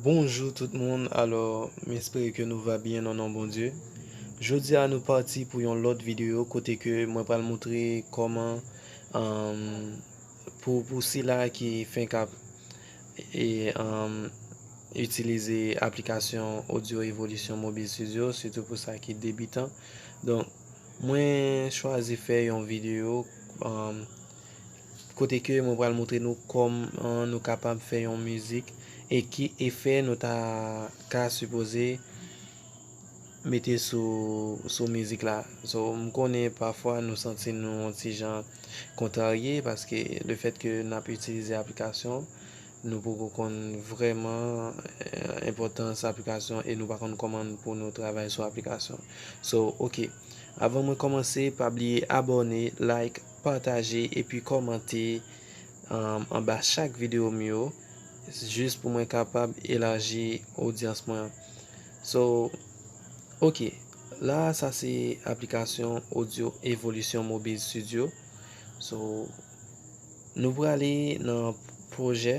Bonjou tout moun alò m espere ke nou va byen nan non Bondye Jodi a nou pati pou yon lòt videyo kote ke mwen pral moutre kòman pou sila ki fenk ap itilize aplikasyon Audio Evolution Mobile Studio sitou pou sa ki debitan. Mwen chwazi fè yon video kote ke mwen pral moutre nou kòman nou kapab fè yon mizik e ki efè nou ta ka sipoze mete sou mizik la. So m konnen pafwa nou santi nou yon ti jan kontrarye paske le fèt ke n ap itilize aplikasyon. Nou poko konn vrèman enpòtans aplikasyon e nou pa konn kòman pou nou travay sou aplikasyon so ok avan mwen kòmanse pa bliye abòne like pataje epi kòmante anba chak video m yo jis pou mwen kapab elaji odyans mwen so ok la sa se aplikasyon odyo evolisyon mobil studio so. Nou prale nan pwojè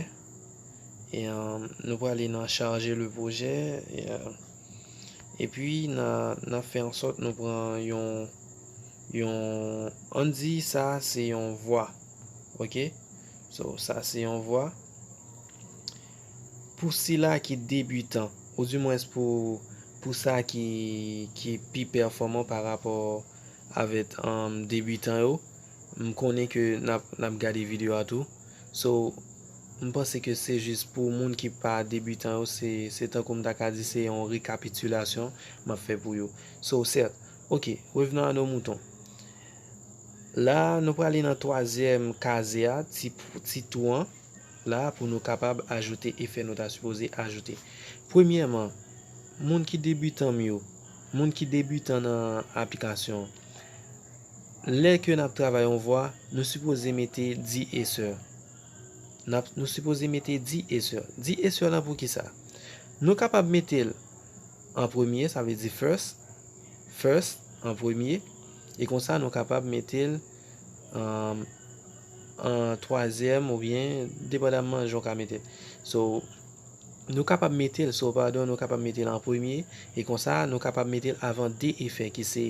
e nou prale nan charge le pwojè e pi nan fè an sòt nou pran yon yon an di sa se yon vwa ok so sa se yon vwa pou sila ki debitan ou di mwens pou pou sa ki ki pi pèfòman pa rapò avèk debitan yo M konnen ke nap gade video a tou so m panse ke se jis pou moun ki pa debutan yo se tankou m ta ka di se yon rekapitilasyon map fè pou yo so sèt ok revenons à nos moutons la nou prale nan twazyèm kaze a ti tou an la pou nou kapab ajoute efè nou ta sipoze ajoute premyèman moun ki debutan m yo moun ki debutan nan aplikasyon. Lè ke nap travay yon vwa, nou sipoze mete di e sè. Nap, nou sipoze mete di e sè. Di e sè lan pou kisa? Nou kapab mete l an premye, sa vle di first, first, an premye, e konsa nou kapab mete l an an twazyèm ou byen depandanman jan w ka mete l. So, nou kapab mete l, so, padon, nou kapab mete l an premye, e konsa nou kapab mete l avan de e fè ki se.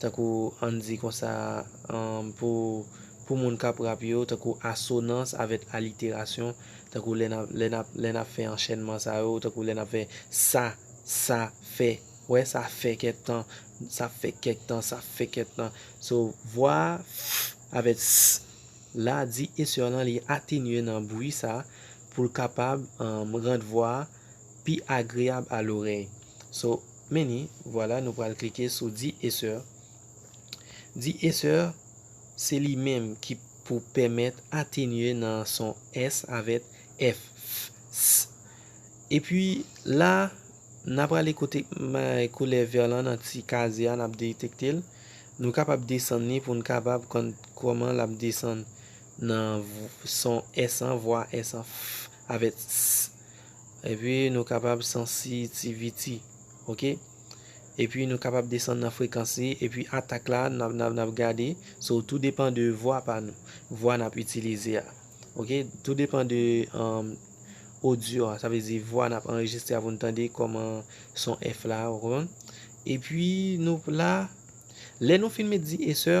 tankou ann di konsa pou pou moun k ap rap yo tankou asonans avèt aliterasyon tankou lè n ap lè n ap lè n ap fè anchènman sa yo tankou lè n ap fè sa sa fè wè sa fè kèk tan sa fè kèk tan sa fè kèk tan so vwa a avèt s la di esè lan li atenye nan bwi sa pou l kapab ann rant vwa a. pi agreab a lorey so meni vwala nou pral klike sou di esè di esè se li menm ki pou pèmèt atenye nan son s avèt f s epi la na prale kote koulè vè lan nan ti kazye a nap detektel nou kapab desann ni poun kapab konn koman lap desann nan son s an vwa s an f avèt s. Epi nou kapab sansitivity ok epi nou kapab desann nan frekans li epi atak la nap gade so tou depan de vwa pa nou vwa nap itilize a ok tou depan de odyo a sa vle di vwa nap anrejistre a pou nou tande kòman son èf la ou konprann epi nou la lè nou fin met di esè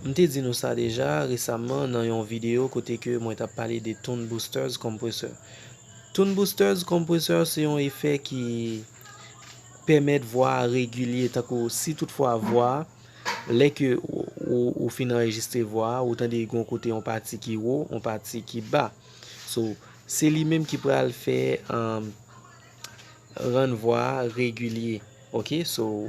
M te di nou sa deja resamman nan yon videyo kote ke mwen tap pale de Tune Boosters Compressor. Tune Boosters Compressor se yon efè ki pèmèt vwa a regilye tankou si tout fwa vwa a, lè ke ou fin anrejistre vwa a, ou tande yon kote yon pati ki wo, yon pati ki ba. So, se li menm ki pral fè rann vwa a regilye. Ok, so.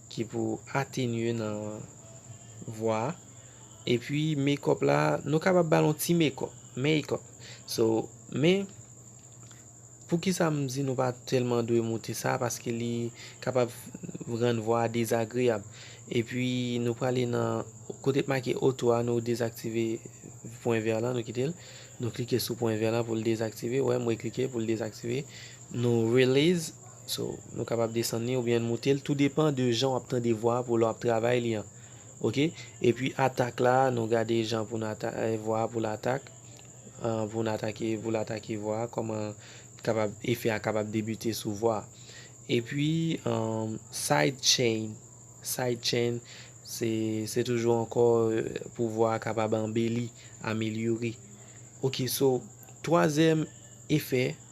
ki pou atenye nan vwa a epi mekòp la nou kapab bal yon ti mekòp makeup so men poukisa m di nou pa tèlman dwe moute sa paske li kapab rann vwa a dezagreyab epi nou prale nan kote k make oto a nou dezaktive pwen vè la nou kite l nou klike sou pwen vè la pou l dezaktive wè mwen klike pou l dezaktive nou release. So, nou kapab desann li oubyen moute l, tou depan de jan w ap tande vwa a pou lè w ap travay li an. Ok. Epi atak la, nou gade jan pou nou ata, vwa a pou l atak, pou nou atake, pou l atake vwa a, kòman kapab, efè a kapab debite sou vwa a. Epi, side chain, side chain, se, se toujou ankò pou vwa a kapab anbeli, amelyore. Ok, so, twazyèm efè,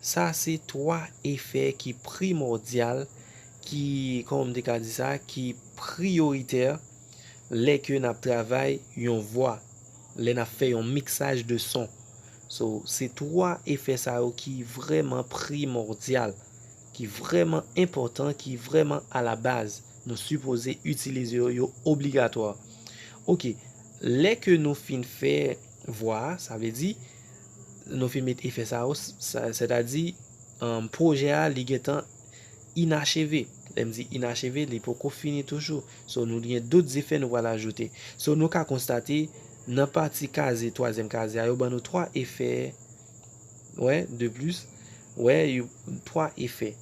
Sa se 3 efè ki primòdyal, ki, kòman m te ka di sa, ki priyoritè lè ke n ap travay yon vwa, lè n ap fè yon miksaj de son. So, se 3 efè sa yo ki vrèman primòdyal, ki vrèman enpòtan, ki vrèman alabaz. Nou sipoze itilize yo, yo obligatwa. Ok, lè ke nou fin fè vwa a, sa vle di. Nou fin met efè sa yo, sètadi pwojè a li gen tan inacheve. Lè m di inacheve, li poko fini toujou. So nou gen dout efè nou pral ajoute. So nou ka konstate nan pati kaze, twazyèm kaze a, yo ban nou 3 efè, wè, de plis. Wè, 3 efè,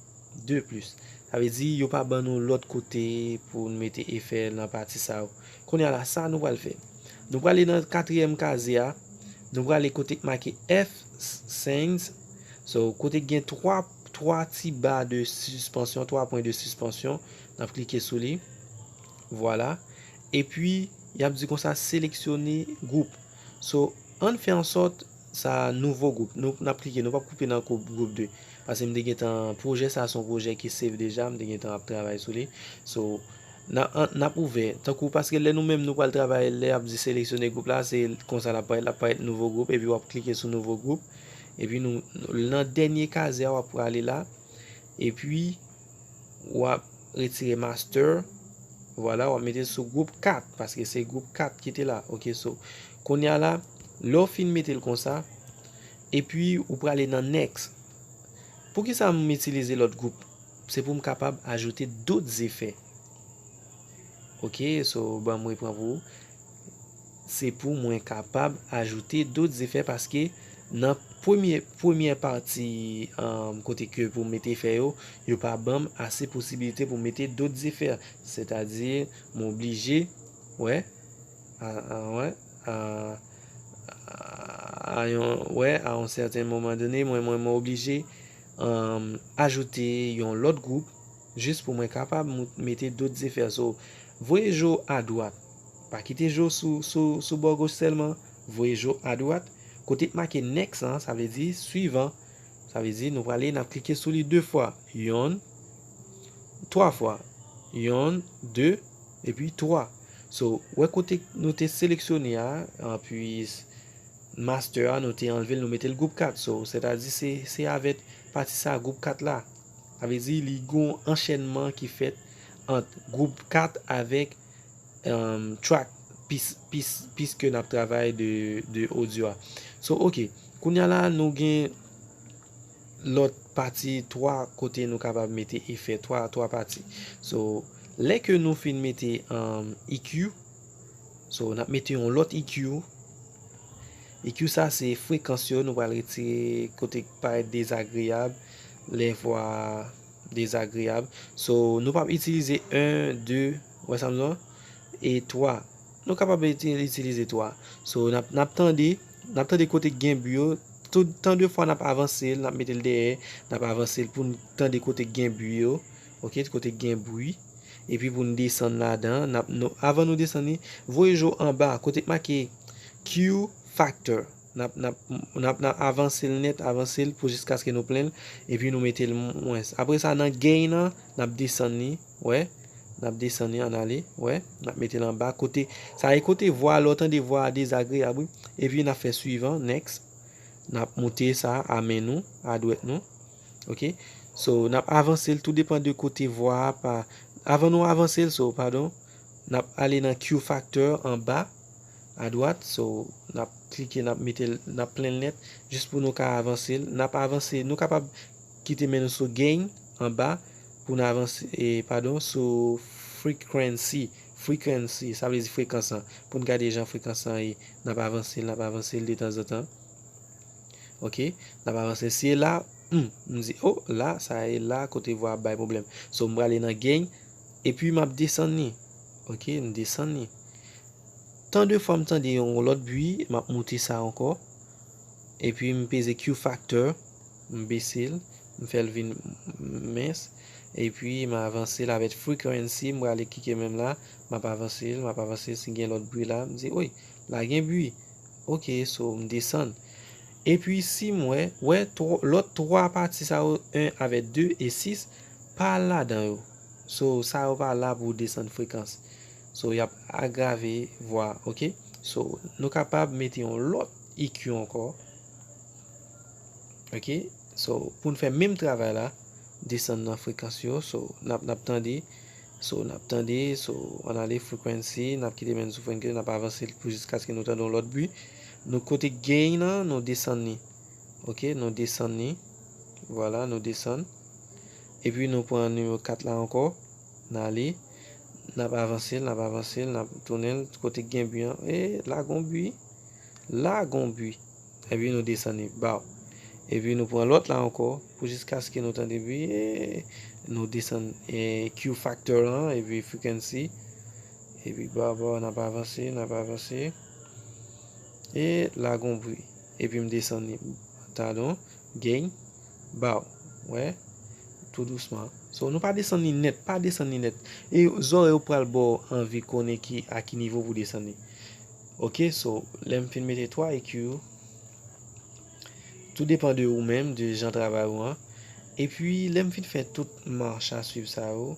de plis. Sa vle di yo pa ban nou lòt kote pou nou mete efè nan pati sa yo. Kounya la sa nou pral fè? Nou prale nan katriyèm kazye a, nou prale kote k make F-Sings, so kote k gen 3 3 ti ba de sispansyon, 3 pwen de sispansyon, n ap klike sou li, vwala, epi y ap di konsa seleksyone gwoup, so ann fè ansòt Sa nouvo group nou nap klike nou pap koupe nan kou group 2 pase m te gentan projè sa son projè ki save deja m te gentan ap travay sou li so na an nap ouvè tankou paske lè nou menm nou pral travay lè yap di seleksyone group la se konsa lap parèt lap parèt nouvo group epi wap klike sou nouvo group epi nou nan dènye kazè a wap prale la epi wap retire master vwala wap mete sou group 4 paske se group 4 ki te la ok so konya la lè ou fin metel konsa epi ou prale nan next poukisa m itilize lòt group se poum kapab ajoute dout zefè ok so banm repran pou ou. se pou mwen kapab ajoute dot zefè paske nan premye premyè pati kote ke pou mete efè yo yo pa banm ase posibilite pou mete dot zefè sètadi m oblije wè wè wè a yon sèten moman done mwen mwen mwen oblije ajoute yon lòt gwoup jis pou mwen kapab mete dot zefè so vwe jo a dwat Pa kite jo sou sou bò goch sèlman, voye jo adwat, kote k make next lan, sa vle di swivan, sa vle di nou prale n ap klike sou li 2 fwa, yon, 3 fwa, yon, 2, epi 3. So, wè kote nou te seleksyone a, anpi master a nou te anlve l nou mete l gwoup 4, so, sètadi se se avèt pati sa gwoup 4 la, sa vle di li gon anchènman ki fèt ant gwoup 4 avèk. track piske nap travay de audio a so ok kounya la nou gen lot pati 3 kote nou kapab mete efè 3 pati so lè ke nou fin mete EQ so nap mete yon lot EQ EQ sa se frekans yo nou pral retire kote k parèt dezagreyab lè vwa. Dezagreyab. So, nou pap itilize 1, 2, ou wè sa m di w lan? E 3. Nou kapab itilize 3. So, n ap, n ap tande, n ap tande kote k gen bi yo. Tout tan de fwa n ap avanse l, n ap mete l dèyè, n ap avanse l pou n tande kote k gen bi yo. Ok, kote k gen bri. Epi pou n desann ladan. N ap, avan nou desann li, voye je w anba kote k make Q-Factor. Nap, nap, nap, nap avanse l nèt, avanse l pou jiskaske nou plen l, epi nou mete l mwens. Apre sa nan gain nan, nap desann li, wè, nap desann li ann ale, wè, nap mete l anba kote, sa e kote vwa a, lè w tande vwa a dezagreyab wi, epi nap fè suivant, next, nap moute sa a a men nou, a dwèt nou, ok, so nap avanse l, tou depan de kote vwa a pa, avan nou avanse l, so, padon. Nap ale nan Q factor anba a dwat so nap klike nap metel nap plenl nèt jis pou nou ka avansel nap avanse nou kapab kite men nou sou gain anba poun avanse e padon sou frequency frequency sa vle di frekans an poun gade jan frekans an ye nap avansel nap avansel de tanzantan ok nap avansel si e la humm m di oh la sa e la kote vwa ap bay pwoblèm so m prale nan gain. Epi map desann li ok m desann li tan de fwa m tande yon lòt bwi map moute sa ankò epi m peze Q factor m bese l m fèl vin mens epi m avanse l avèk frequency m prale klike menm la map avanse l map avanse l si gen lòt bwi la m di oi la gen bwi ok so m desann epi si m wè wè lòt 3 pati sa yo 1 avèk 2 e 6. Pa al ladan yo. So sa yo pa la pou desann frekans. So yap agrave vwa ok. So nou kapab mete yon lòt EQ ankò ok. So poun fè menm travay la desann nan frekans yo so nap nap tande so nap tande so an ale frequency nap kite men sou frenkens nap avanse pou jiskaske nou tande yon lòt bwi nou kote gain nan nou desann ni. Ok nou desann li vwala nou desann epi nou pran nimewo 4 la ankò n ale n ap avanse l n ap avanse l n ap tounen l kote k gen bi an ee la gon bi la gon bi epi nou desann li baw epi nou pran lòt la ankò pou jiskaske nou tande bi ee nou desann kiw faktè lan epi frikennsi epi baw baw n ap avanse n ap avanse ee la gon bi. Epi m desann li tadon geny ba w wè tou dousman so nou pa desann li nèt pa desann li nèt e zòrèy ou pral ba w anvi konnen ki a ki nivo pou w desann li ok so lè m fin mete 3 ekiw yo tou depan de ou menm de jan travay ou an epi lè m fin fè tout mach a swiv sa yo.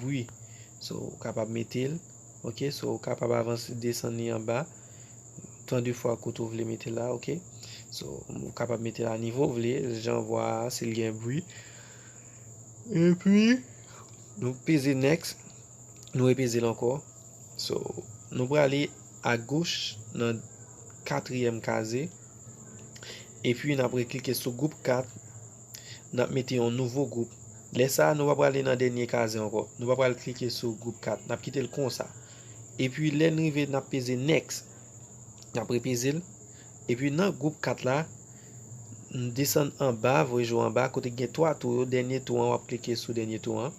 bwi so ou kapab metel ok so ou kapab avanse desann li anba tan de fwa kout ou vle metel la ok so ou kapab metel a nivo ou vle jan vwa a sil gen bwi epi nou peze nèks nou repezel ankò so nou prale a goch nan katriyèm kaze epi nap reklike sou gwoup 4. n ap mete yon nouvo gwoup. Lè sa a, nou pa prale nan dènye kaze ankò. Nou pa pral klike sou gwoup 4. N ap kite l konsa. Epi lè n rive n ap peze next. N ap repeze l. Epi nan gwoup 4 la, n desann anba, voye jou anba, kote ki gen 3 tou yo, dènye tou an, w ap klike sou dènye tou an.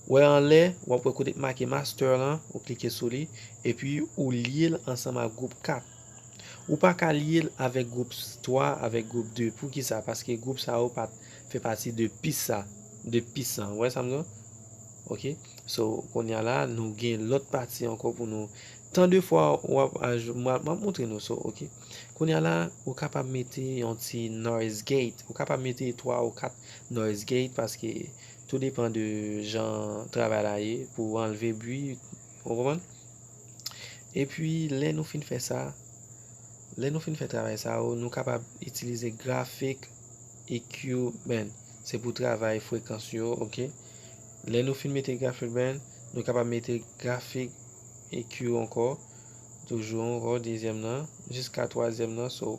Wè anlè, w ap wè kote ki make master lan, ou klike sou li. Epi ou lye l ansanm ak gwoup 4. Ou pa ka lye l avèk gwoup 3, avèk gwoup 2. Pou ki sa? Paske gwoup sa yo pa fè pati de pis sa, de pis sa. Ou wè sa m di w? Ok. So, kounye a la, nou gen lòt pati ankò pou nou. Tan de fwa w ap, m ap montre nou. So, ok. Kounye a la, ou kapab mete yon ti noise gate. Ou kapab mete 3 ou 4 noise gate paske tou depan de jan travay la ye pou anlve bwi. Ou konprann? Epi lè nou fin fè sa, lè nou fin fè travay sa yo, nou kapab itilize grafik EQ Band. Se pou travay frekans yo, ok. Lè nou fin mete grafik band, nou kapab mete grafik EQ ankò. Toujou ankò dezyèm nan, jiska twazyèm nan, so.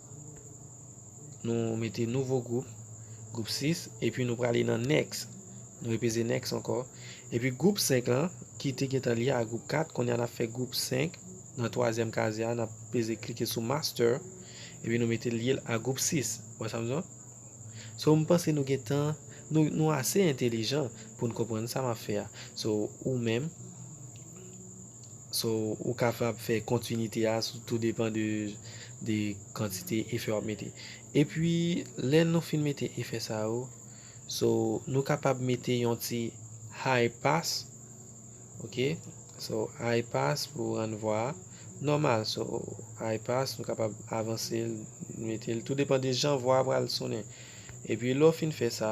Nou mete nouvo gwoup, gwoup 6, epi nou prale nan next. Nou repeze next ankò. Epi gwoup 5 lan, ki te gentan lye a gwoup 4, kounye a n ap fè gwoup 5, nan twazyèm kazye a, n ap peze klike sou master, epi nou mete lye l a gwoup 6. Ou wè sa m di w? So m panse nou gentan, nou ase entelijan pou n konprann sa m ap fè a. So ou menm. So ou kapab fè kontinite a sou tou depan de kantite efè wap mete. Epi lè nou fin mete efè sa yo, so nou kapab mete yon ti high pass ok so high pass pou rann vwa a nòmal so high pass nou kapab avansel metel tou depan de jan vwa a pral sonnen. Epi lè ou fin fè sa.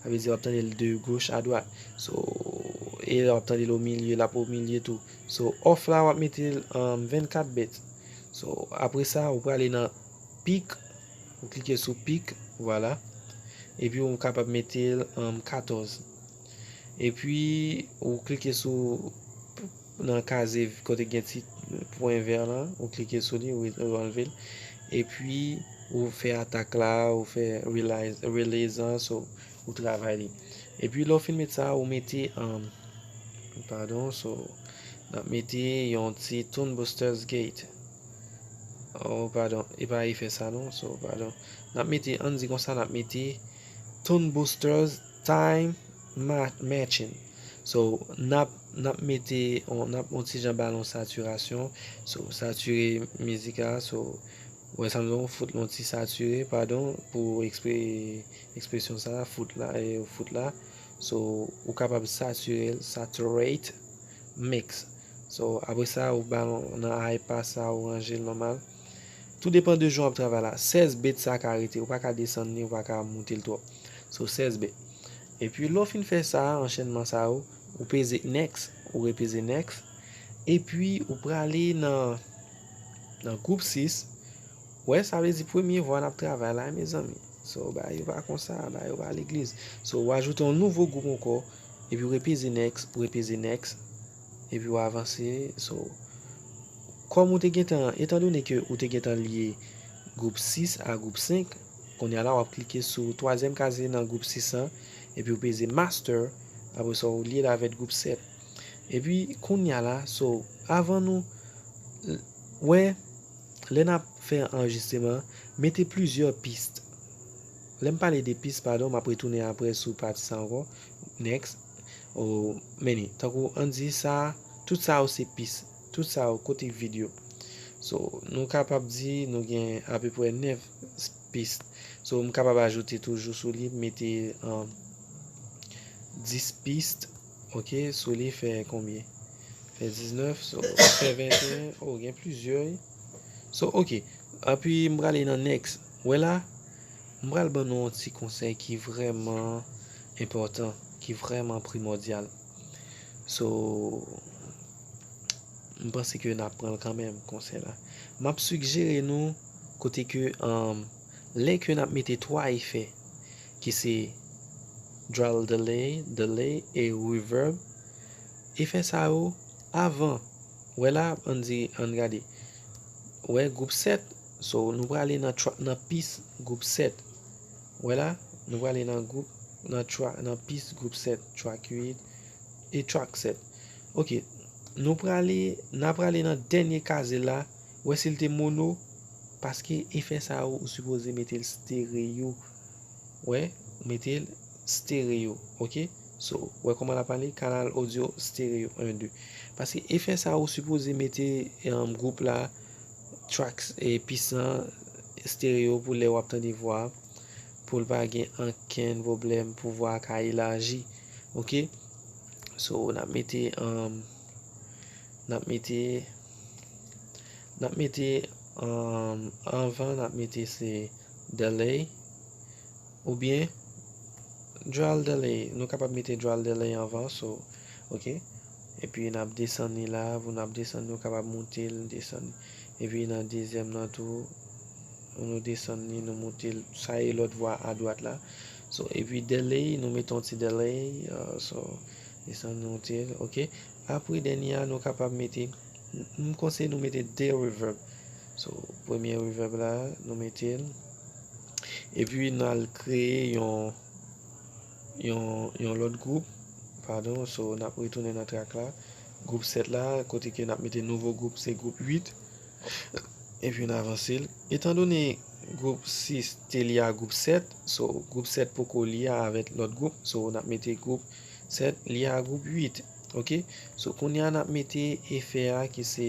Sa vle di wap tande l de goch a dwat so e lè wap tande l o milye lap o milye tou so off la wap mete l an 24 bit so apre sa ou prale nan pik ou klike sou pik vwala epi ou kapab mete l an 14 epi ou klike sou Nan kaze kote gen ti pwen vè lan, ou klike sou li, ou anlve l. Epi ou fè atak la, ou fè release an, so ou travay li. Epi lè ou fin met sa, ou mete, padon, so nap mete yon ti tune boosters gate. Oh padon, e pa efè sa non, so padon. Nap mete, ann di konsa nap mete tune boosters time. Matching So nap nap mete on nap on ti jan bal on satirasyon So satire mizik a So wè sam di on fout l on ti satire padon pou ekspre ekspresyon sa a fout la e ou fout la So ou kapab satire l Saturate Mix So apre sa ou ba l on nan high pass sa ou ranje l nòmal Tou depan de jan wap travay la 16 bit sa ka rete ou pa ka desann li ou pa ka moute l twòp So 16 bit. Epi lè w fin fè sa a, anchenman sa yo, ou peze next, ou repeze next, epi ou prale nan nan gwoup 6, ou wè sa vle di premye vwa n ap travay la mezanmi, so bagay yo pa konsa, bagay yo pa legliz, so ou ajoute yon nouvo gwoup ankò, epi ou repeze next, ou repeze next, epi ou avanse, so kòm ou te gentan, etandone ke ou te gentan lye gwoup 6 a gwoup 5. Kounye a la w ap klike sou twazyèm kazye nan gwoup 6 an epi ou peze Master apre sa ou lye l avèk gwoup 7 epi kounye a la so avan nou wè lè n ap fè anrejistreman mete plizyè pist lè m pale de pist padon m ap retounen apre sou pati sa ankò next ou many tankou an n di sa tout sa yo se pist tout sa yo kote vid yo so nou kapab di nou gen apeprè 9. piste so m kapab ajoute toujou sou li mete 10 piste ok sou li fè konbyen fè 19 so fè 21 o gen plizyè wi so ok api m prale nan next ou wè la m pral ban nou yon ti konsèy ki vrèman enpòtan ki vrèman primòdyal. So m panse ke nap pran l kanmenm konsè la. Map sigjere nou kote ke lè ke nap mete 3 efè ki se Drawl Delay, Delay e Reverb efè sa yo avan wè la an di an gade wè group 7 so nou prale nan pis group 7 Wè la, nou prale nan group, nan tra, nan pis group 7, track 8, e track 7. Ok, nou prale, na prale nan dènye kaze la, wè si l te mono, paske efè sa yo ou sipoze mete l stereo. Wè, ou mete l stereo, ok. So, wè kòman l ap ale, kanal odyo stereo 1, 2. Paske efè sa yo ou sipoze mete group la. Tracks pisan stereo pou lè wap tande vwa poul pa gen ankenn pwoblèm pou vwa a ka elaji ok so nap mete nap mete nap mete anvan nap mete se delay oubyen dral delay nou kapab mete dral delay anvan so ok. Epi nap desann li la pou nap desann nou kapab moute l desann li. Epi nan dezyèm nan tou pou nou desann li nou moute l sa e lòt vwa a dwat la. So epi delay nou mete yon ti delay so desann moute l ok. Apre dènye a nou kapab mete m konseye nou mete 2 reverb so premye reverb la nou mete l epi nal kreye yon. Yon lòt gwoup padon so nap retounen nan trak la gwoup 7 la kote ke nap mete nouvo gwoup se gwoup 8 epi n avanse l etan done gwoup 6 te lye a gwoup 7 so gwoup 7 poko lye avèk lòt gwoup so nap mete gwoup 7 lye a gwoup 8 ok so kounye a nap mete efè a ki se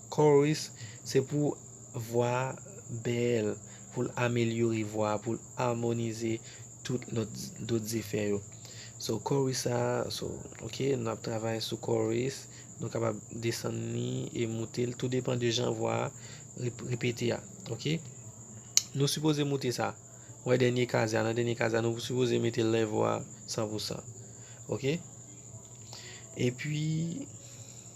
Chorus, Se pou vwa a bèl, pou l amelyore vwa a, pou l amonize tout lòt dot zefè yo. So chorus sa a, so ok nou ap travay sou chorus, nou kapab desann li e moute l tou depan de jan vwa a repete a ok. Nou sipoze moute sa, wè dènye kaze a, nan dènye kaze a nou sipoze mete level a san pou san ok. Epi.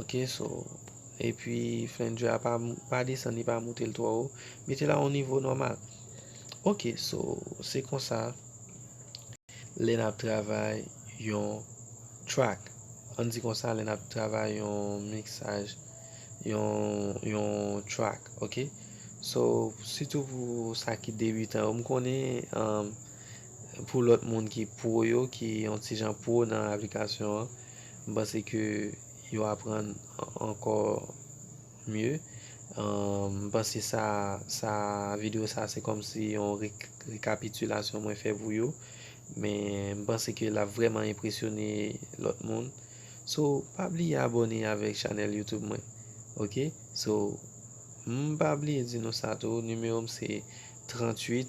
ok so epi flender a pa pa desann li pa moutel twò wo metel a yon nivo nòmal ok so se konsa lè nap travay yon track an di konsa lè nap travay yon miksaj yon yon track ok so sitou pou sa ki debitan yo m konnen pou lòt moun ki pwo yo ki yon ti jan pwo nan aplikasyon an M panse ke yo aprann ankò mye. M panse sa sa video sa se kòmsi yon rekapitilasyon mwen fè pou yo. Men m panse ke l ap vrèman enpresyone lòt moun. So pa bliye abòne avèk chanèl YouTube mwen ok. So m pa bliye di nou sa tou nimewo m se 38.